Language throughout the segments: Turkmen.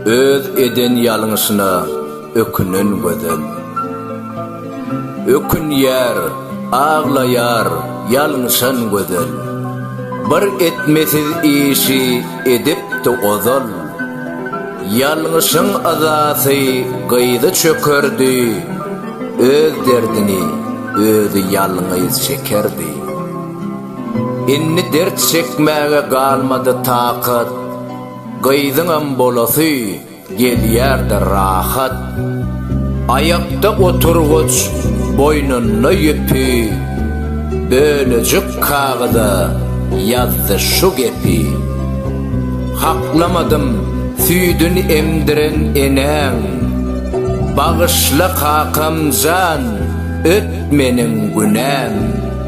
Öz eden ýalňyşyna ökünen gözel. Ökünýär, aglaýar ýalňyşan gözel. Bir etmesiz işi edipdi ozal. Ýalňyşyň yzasy gyzy çökerdi, Öz derdini özi ýalňyz çekerdi. Indi dert çekmäge galmady takat, Gyzyňam bolasy gelýär-de rahat. Aýakda oturgyç, boýnunda ýüpi, Bölejik kagyza ýazdy şu gepi, Haklamadym süýdün emdiren enäň, Bagyşla kakam jan, öt meniň günäm.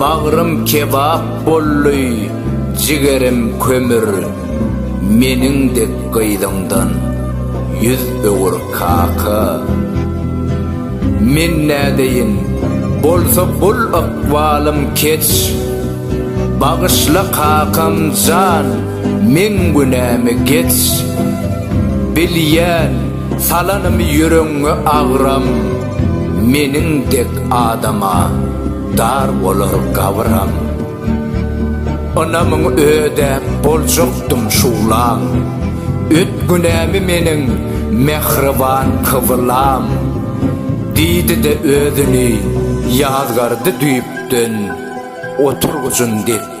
Bagrym kebap boldy, jigerim kömür, Meniň dek gyzyňdan ýüz öwür kaka. Men nädeýin, bolsa bul ykbalym keç, Bagyşla kakam jan, meň günämi geç. Bilýän, salanymy ýüregiňe agram. Meniň dek adama dar bolar gabyram. Ynamyň ödäp boljakdym şuglam. Öt günämi meniň mähriban kybylam. Diýdi-de özüni ýazgardy düýpden oturgyjyn dek.